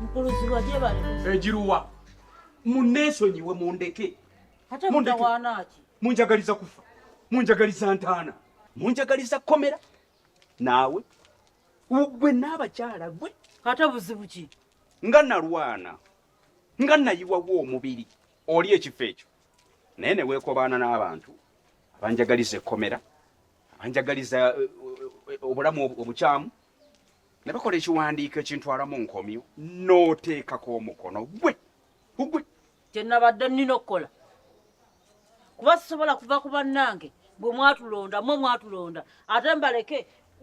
Mukuluziwa je bali. Ejiruwa. Eh, Munesonyiwe mundeke. Ate mutawana ki? Munjagaliza kufa. Munjagaliza ntana. Munjagaliza komera. Nawe. Ugwe naba chala gwe. Ate buzibu ki? Nga nalwana. Nga nayiwa wo omubiri. Oli ekifo ekyo. Naye ne weekobaana n'abantu abanjagaliza ekkomera, abanjagaliza eh, eh, obulamu obukyamu, ne bakola ekiwandiiko ekintwala mu nkomyo n'oteekako omukono gwe gugwe kye nabadde nnina okukola kuba sisobola kuva ku bannange bwe mwatulonda mwe mwatulonda ate mbaleke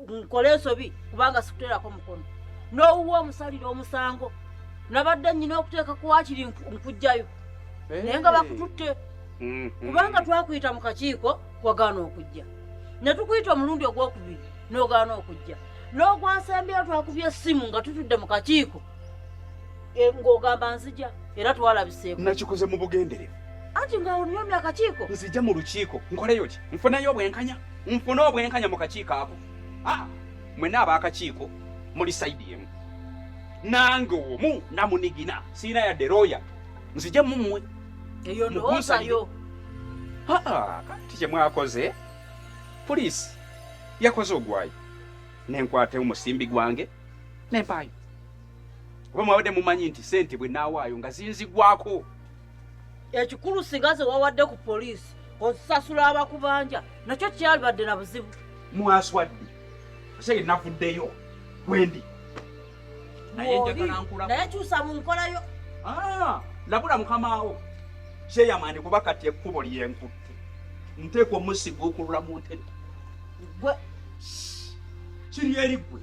nkole ensobi kubanga sikuteerako mukono n'owuwa omusalira omusango nabadde nnyina okuteeka ku wakiri nkujjayo naye nga bakututte mm-hmm. kubanga twakuyita mu kakiiko wagaana okujja ne tukuyita omulundi ogw'okubiri n'ogaana okujja n'ogwansembyeyo twakubye essimu nga tutudde mu kakiiko e, ng'ogamba nzija era twalabiseeko nakikoze mu bugenderevu anti nga onyomya akakiiko nzija mu lukiiko nkoleyo ki nfuneyo obwenkanya nfune obwenkanya mu kakiiko ako ah, mwena abaakakiiko muli saidi emu nange omu namunigina siina yadde looya nzija mumwe eyo ndowoozayo kati kyemwakoze pulisi yakoze ogwayo nenkwata omusimbi gwange nempaayo oba mwabadde mumanyi nti sente bwe naawaayo nga zinzigwako ekikulu singa ze wawadde ku poliisi osasula abakubanja nakyo kyalibadde na buzibu mwaswadde ose navuddeyo wendi naye kyusa mu nkolayo ah, labula mukamaawo kyeyamani kuba kati ekkubo lyenkutte nteeka omusiga okulula mu ntebe gwe kiri eri gwe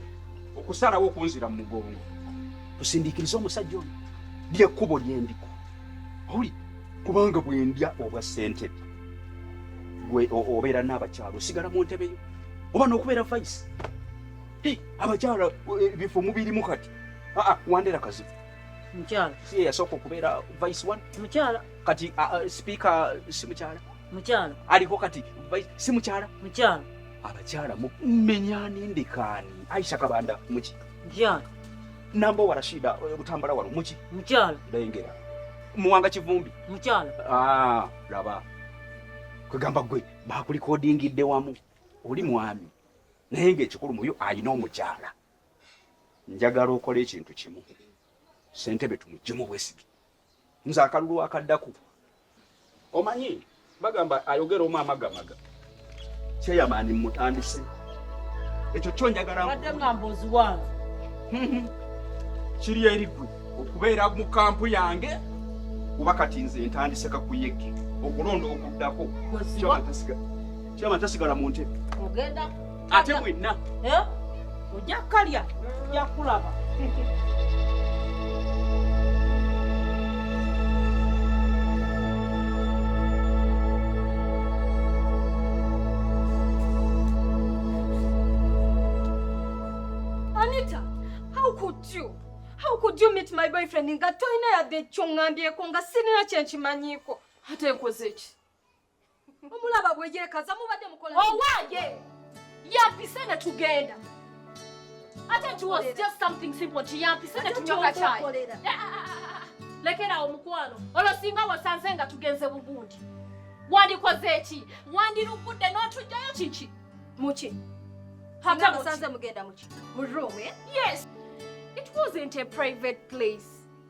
okusalawo okunzira mu mugongo tusindikirize omusajja ono lyekkubo lyendiko oli kubanga bwendya obwa sente gwe obeera n'abakyalo osigala mu ntebe yo oba n'okubeera vaisi abakyala eh, bifo mubirimu kati aa ah, ah, wandera kazibu mukyala si yasooka okubeera vice one mukyala kati ah, speaker si mukyala mukyala aliko kati si mukyala mukyala abakyala mumenyani ndikaani aisha kabanda muki mukyala namba wa rashida eh, butambala wano muki mukyala ndayengera muwanga kivumbi mukyala ah, laba kwegamba gwe bakulikodingidde wamu oli mwami naye ng'ekikulu muyo alina omukyala njagala okola ekintu kimu sentebe tumujjemu bwesige nze akalulu akaddaku omanyi bagamba ayogera omu amagamaga kyeyamaani mutandise ekyo kyo njagalaaddeamboziwange mm-hmm. kiri eri gwe okubeera mu kampu yange kuba kati nze ntandise kakuyege okulonda okuddako Kiraba tasigala mu ntebe. Ogenda ate mwenna. Eh? Ojja kalya, ojja kulaba. my boyfriend nga tolina yadde ekyo ŋŋambyeko nga sirina kye nkimanyiiko ate nkoze ki omulaba bweyekaza mubadde mukola owange yampise ne tugenda ate it was just something simple nti yampise ne tunyoka kyayi eh, ah, ah, ah, lekerawo mukwano olwo singa wasanze nga tugenze bugundi wandikoze eki wandirugudde n'otujjayo kiki muki hatamusanze mugenda muki mu room eh? yes it wasn't a private place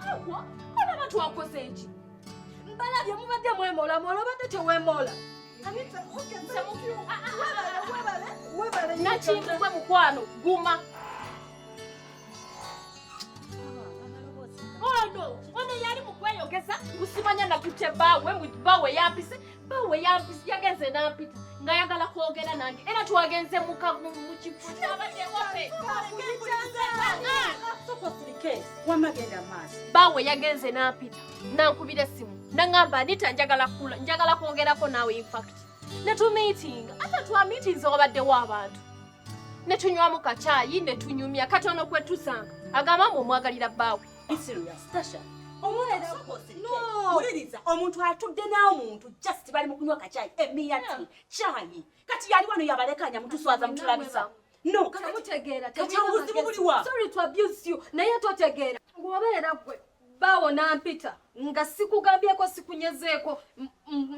Hawa, olaba twakoze ki? Mbalabye mubadde mwemola mola obadde tewemola. Nakimbugwe mukwano guma. Ono, ono yali mukweyogeza gusimanya nakutya bawe, bawe yapise bawe yagenze nampita ngayagala kwogera nange era twagenze mukifo bawe yagenze nampita nankubira essimu nangamba anita njagala kula njagala kwogerako naawe infact netumiitinga ate twamiitinze wabaddewo abantu netunywamu kacaayi netunyumya katono kwetusanga agamba mbu omwagalira bbaawe Be serious, Tasha. wuliriza omuntu atudde n'omuntu just bali mu kunywa kacayi emiyati cayi kati yali wano yabalekanya mutuswaza mutulabisa no kakaobuzibu buliwa naye totegeera ng'obeera gwe baawo nampita nga sikugambyeko sikunyezeeko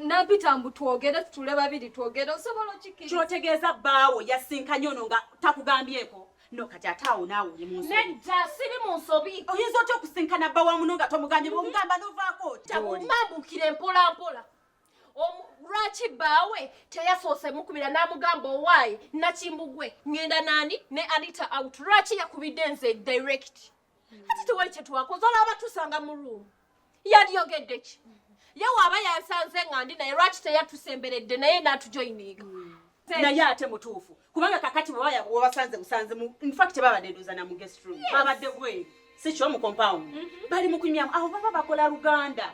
nampita mbu twogere tutule babiri twogere osobola okikiri kyotegeeza baawo yasinkanye ono nga takugambyeko No kati ate awo naawe oli mu nsobi. Nedda siri mu nsobi. Oyinza otya okusinkana bba wa muno nga tomugambye mhm. bw'omugamba n'ovaako otya oli. Mambukire mpola mpola. Lwaki baawe teyasoose mukubira n'amugamba owaaye Nakimbugwe ng'enda naani ne Anita out lwaki yakubidde nze direct. ati tuwe kye twakoze olaba tusanga mu ruumu yaliyogedde ki ye waaba yansanze nga ndi naye lwaki teyatusemberedde naye natujoyininga naye ate mutuufu kubanga kakati bwebasanze musanze infact babadde ndoza na mugestroom babadde bweru sikyo mu compound mhm. bali mukunywamu awo baba bakola luganda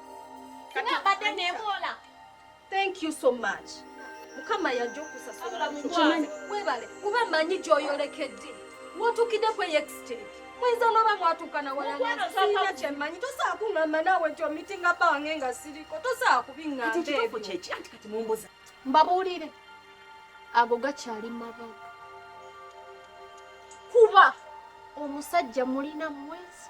Thank you so much. Mukama yajja okusasula mukwano. Webale kuba manyi gyoyolekedde. Watuukidde ku extent. Mwenza n'oba mwatuuka na wala nga sirina kye mmanyi. Tosobola kungamba naawe nti omitinga bange nga siriko. Tosobola kubingamba ebyo. Kati kituufu kyeki anti kati mumbuza. Mbabuulire. Ago gakyali mabaga. Kuba omusajja mulina mwezi.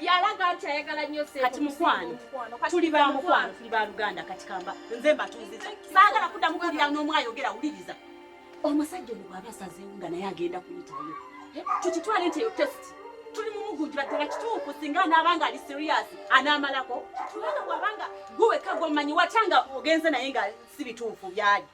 yalaga nti ayagala nnyo sente. Kati mukwano tuli ba mukwano tuli ba luganda kati kamba nze mbatuuziza saagala kuddamu kuwulira n'omu ayogera wuliriza omusajja ono bw'aba asazeewo nga naye agenda kuyitayo eh, tukitwale nti eyo tesiti tuli mumugunjula ddala kituufu singa anaaba nga ali siriyasi anaamalako kubanga bw'aba nga gwe wekka gw'omanyi watya nga ogenze naye nga si bituufu byali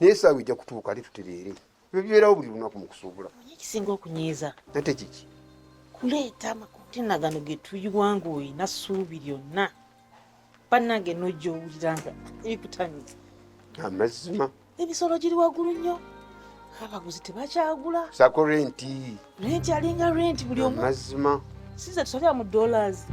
naye esaawa ejja kutuuka ate tutereere ebyo bibeerawo buli lunaku mu kusuubula ekisinga okunyiiza ate kiki kuleeta amakontena gano ge tuyiwa ng'olina ssuubi lyonna bannange n'ojja owulira nga ebikutanyiza amazima emisolo giri waggulu nnyo abaguzi tebakyagula sako renti renti alinga renti buli omu mazima sinza tusobya mu dollars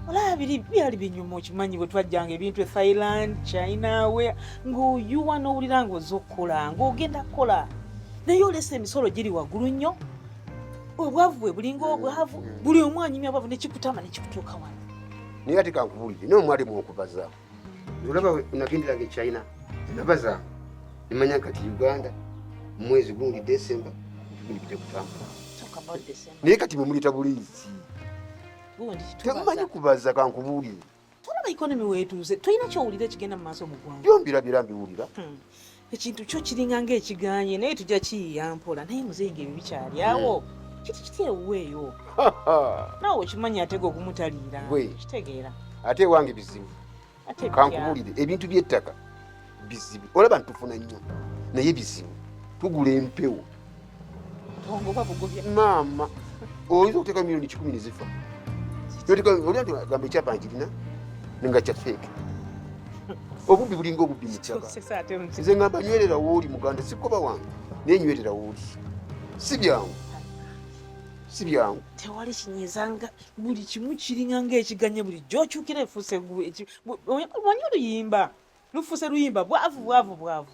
olaba biri byali binyuma okimanyi bwe twajjanga ebintu e thailand china we ng'oyuwa n'owulira ng'oza okukola ng'ogenda kukola naye olesa emisolo giri waggulu nnyo obwavu bwe bulinga obwavu buli omu anyumya obwavu nekikutama nekikutuuka wano naye ate kankubulire naye omwalimu okubaza olaba unagenderanga echina nabaza nimanya kati uganda mwezi gundi december gulipite kutambula naye kati mwemuleta bulizi temumanyi kubaza kankubuulire tulaba ikonomi wetuuze tulina kyowulira ekigenda mu maaso mu ggwanga byombirabira mbiwulira hmm. ekintu kyo kiringa ng'ekiganye naye tujja kiyiya mpola naye muzeeyi ng'ebyo bikyali awo hmm. kiti kiti ewuweeyo naawe okimanyi atega okumutaliira kitegeera ate ewange bizibu kankubulire ebintu by'ettaka bizibu olaba ntufuna nnyo naye bizibu tugula empewo maama oyinza okuteeka milioni kikumi nezifa gamba ekyapa nkirina nga kya feeke obubbi bulinga obubbi mukyaba nze ngamba nywerera wooli muganda sikoba wange naye nywerera wooli si byangu si byangu tewali kinyiza nga buli kimu kiringa ngaekiganye buli gyokyukira efuuse omanyi oluyimba lufuuse luyimba bwavu bwavu bwavu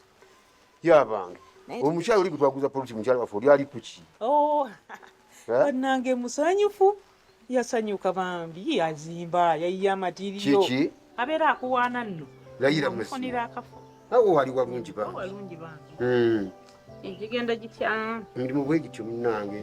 yabange omukyala oli gwetwaguza polisi mukyala waffe oli ali kuki oh, eh? banange musanyufu yasanyuka bambi yazimba yayiye amatirio kiki abeera akuwaana nno layira mufunira akafo awo wali walungi bangi hmm. egigenda gitya mulimu bwe gityo munange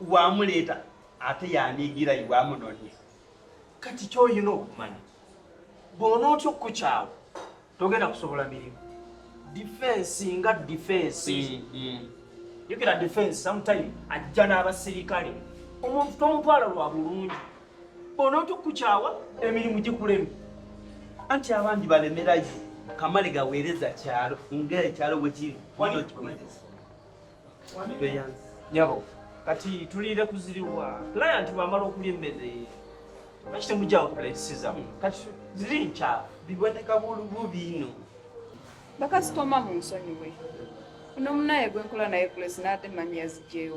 wamuleeta ate yaniigira iwe amunonye kati kyoyina okumanya bwona otya okukukyawo togenda kusobola mirimu difensi nga difensi yogera mm, mm. difensi sometime ajja n'abasirikale omuntu tomutwala lwa bulungi bwona otya okukukyawa emirimu gikulemu anti abandi balemerayo kamale gaweereza kyalo ngaekyalo wekiri nyabo kati tuliire kuziriwa client bwamala okulya emmere lwaki temugyawo tulesizamu kati ziri nkya biboneka bulubu biino bakasitoma mu nsonyiwe uno munaye gwenkola naye kulesi naate manyi yazigyeyo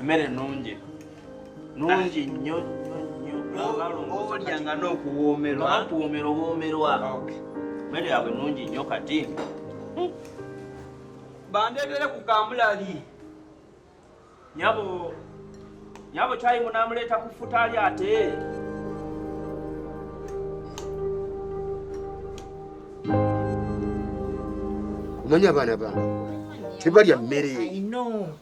Emmere nnungi nungi nnyo olya nga n'okuwoomerwa kuwoomera obwomerwa emmere yaabwe nungi nnyo kati hmm. bandeetere ku kamulali nyabo nyabo kyayi munamuleeta ku ffuta ali ate omanyi abaana bange tebalya mmere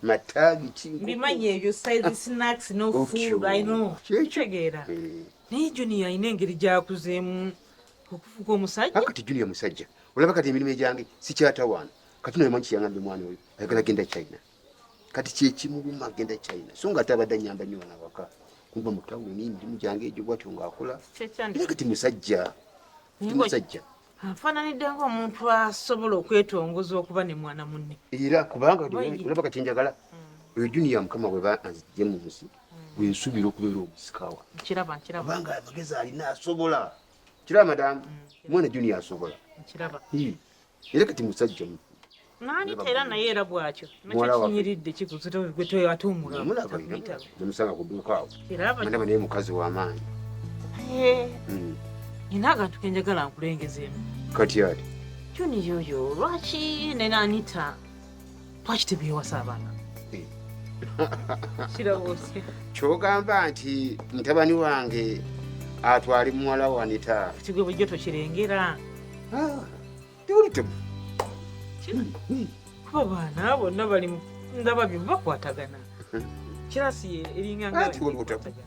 mataagi kikyekyekitegeera eh. naye junior alina engeri gyakuzeemu okufuga omusajja akati junior musajja olaba kati emirimu egyange sikyatawaana kati nomanyi kiyangambye omwana oyo ayagala genda china kati kyekimuluma agenda china so nga ate abadde anyamba nyo wana waka kumba mutawuni emirimu gyange egyo bwatyo ngaakola era kati musajja musajja afaananidde ngaomuntu asobola okwetongoza okuba ne mwana munne era kubanga olaba kati njagala mm. oyo juniya mukama bwe banzijje mu nsi mm. wensuubira okubeera omusika wankubanga amagezi alina asobola kiraba madamu mm, mwana juniya asobola era kati musajja mu nani tera naye era bwakyo nakyekinyiridde kikuzitemulaamusanga kuduuka awo mandaba naye mukazi wamaanyi hmm. nina akantu kenjagala nkulengezeemu kati ati kyoniyoyo lwaki nenanita lwaki tebyewasa abaana kyogamba nti mutabani wange atwali muwala wanita kigwe bujjo tokirengera ah, tiwulitemu abaana bonna bali ndaba byo bakwatagana kirasi eringa nga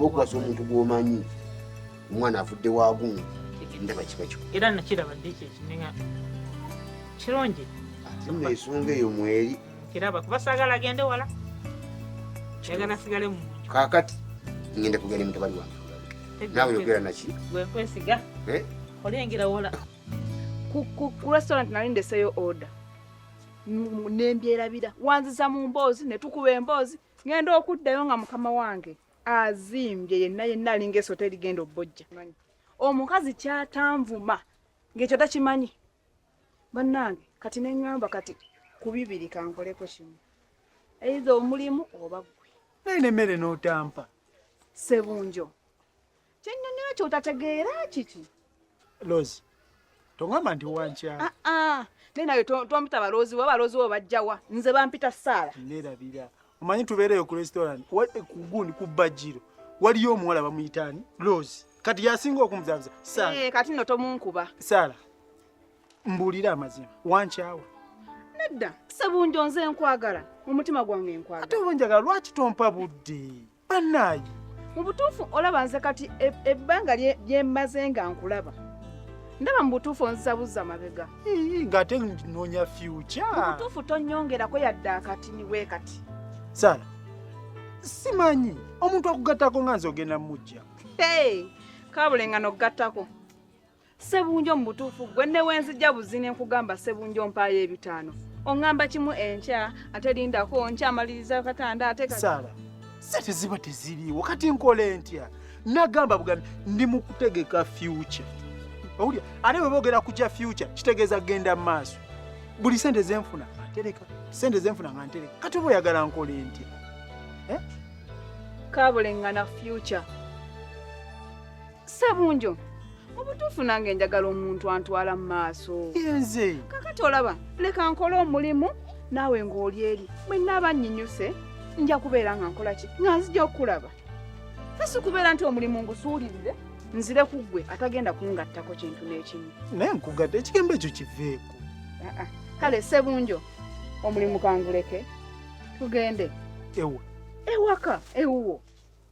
okuwasa omuntu gwomanyi omwana avudde wagundi ndaba kiba kiko era nakiraba ddi kyekinenga kirungi nno ensonga eyo mweri kiraba kuba sagala agende wala yagala sigale mu kakati ngenda kugenda mutabani wange nawe yogera naki gwekwesiga eh? olengera wola ku restaurant nali ndeseyo order nembyerabira wanziza mu mboozi netukuba emboozi ngenda okuddayo nga mukama wange azimbye yenna yenna alinga esota erigenda obbojja omukazi kyatanvuma ng'ekyo takimanyi bannange kati neŋŋamba kati ku bibiri kankoleko kimu eiza omulimu oba gwe naye nemmere n'otampa sebunjo Kyennyonyola kyotategeera kiki? Lozi, tongamba nti wankyala. Ah, ah. Naye nawe tompita baloozi wa baloozi wo bajjawa nze bampita saala. Nerabira omanyi tubeereyo ku restaurant kugundi ku bajjiro waliyo omuwala bamuyitaani Lozi kati yasinga okumuzaabuza saala. Hey, eh, kati no tomunkuba saala. Mbuulira amazima wankyawa. Nedda sebunjo nze nkwagala mu mutima gwange nkwagala. Ate obunjagala lwaki tompa budde? bannaayi mu butuufu olaba nze kati e- ebbanga lye- lye mmaze nga nkulaba ndaba mu butuufu onzizabuzza mabega Ii, ng'ate nnoonya mu fyuca butuufu tonyongerako yadde akatini bwe kati sara simanyi omuntu akugattako nga nze ogenda mujja Hey, kabulengano okugattako sebunjo mu butuufu gwe ne wenzijja buzi ne nkugamba sebunjo mpaayo ebitaano oŋŋamba kimu enkya ate lindako nkyamaliriza katanda ate sala sente ziba teziriiwo kati nkola entya nagamba bugambi ndi mu kutegeka fyuca owulira ate bwe boogera ku kya fyuca kitegeeza kugenda mu maaso buli sente zenfuna antereka sente zenfuna nga ntereka kati oba oyagala nkola entya eh? kabulengana fyuca Sabunjo, mu butuufu nange njagala omuntu antwala mu maaso. Yenze. Kakati olaba, leka nkole omulimu naawe ng'oli eri. Bwe nnaaba nnyinyuse, nja kubeera nga nkola ki? Nga nzija okukulaba. Fe si kubeera nti omulimu ngusuulirire, nzire ku ggwe atagenda kungattako kintu n'ekimu. Naye nkugadde ekigambo ekyo kiveeko. Ah, ah. Kale Sebunjo, omulimu kanguleke tugende. Ewa. Ewaka, ewuwo.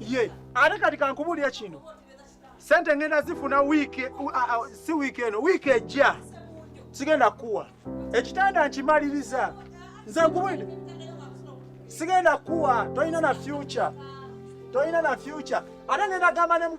ye ate kati kankubulira kino sente ngenda zifuna wiiki si wiiki eno wiiki ejja sigenda kuwa ekitanda nkimaliriza nze nkubwire sigenda kuwa tolina na future tolina na future ate ngenda gamba ne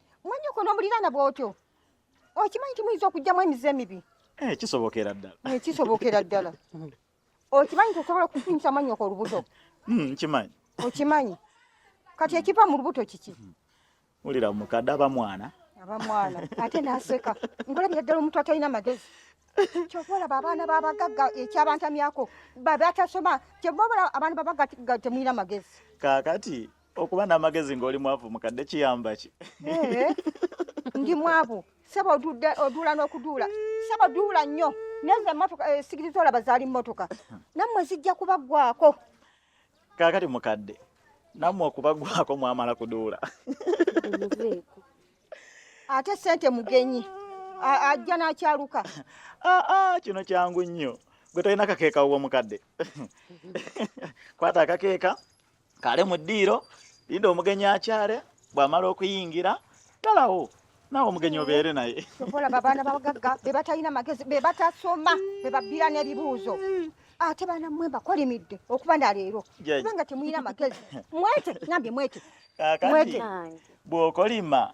Mwanyoko n'omuliraana bw'otyo okimanyi nti muyinza okugyamu emize emibi eh, kisobokera ddala eh, kisobokera ddala okimanyi nti osobola okufunyisa manyoko olubuto hmm, nkimanyi okimanyi kati ekiva mu lubuto kiki hmm. wulira mukadde aba mwana aba mwana ate naseka ngolabira ddala omuntu atalina magezi kyova olaba abaana babagagga ekyabantamyako babatasoma kyova olaba abantu babagga temulina magezi kakati okuba n'amagezi ng'oli mwavu mukadde kiyamba ki eh, ndi mwavu saba oduula n'okuduula saba duula nnyo nezo emotoka eh, sigiri zolaba zaali mmotoka nammwe zijja kubaggwako kaakati mukadde nammwe okubaggwako mwamala kuduula ate sente mugenyi ajja n'akyaluka ah, ah, kino kyangu nnyo gwe tolina kakeeka wuwo mukadde kwata akakeeka kale mu ddiiro linda omugenyi akyale bw'amala okuyingira galawo nawe omugenyi obeere naye olaba abaana babagagga be batalina magezi be batasoma be babbira n'ebibuuzo ate baana mmwe mbakolimidde okuba na leero kubanga temulina magezi mwete nambye mwete mwete bw'okolima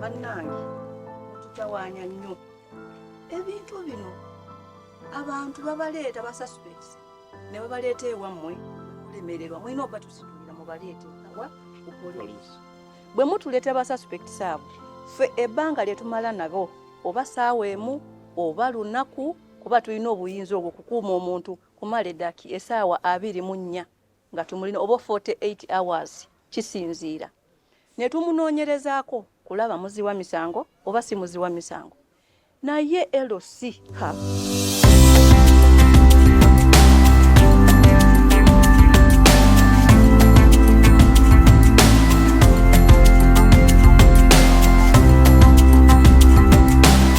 bannange mututawaanya nnyo ebintu bino abantu babaleeta basuspects ne babaleeta ewammwe kulemererwa mulina okubatusitulira mubaleete awa ku poliisi bwe mutuleeta basuspects abo ffe ebbanga lye tumala nabo oba saawa emu oba lunaku kuba tulina obuyinza obwo okukuuma omuntu kumala edaki esaawa abiri mu nnya nga tumulina oba 48 hours kisinziira ne tumunoonyerezaako kulaba muzi wa misango oba si muzi wa misango naye LC ha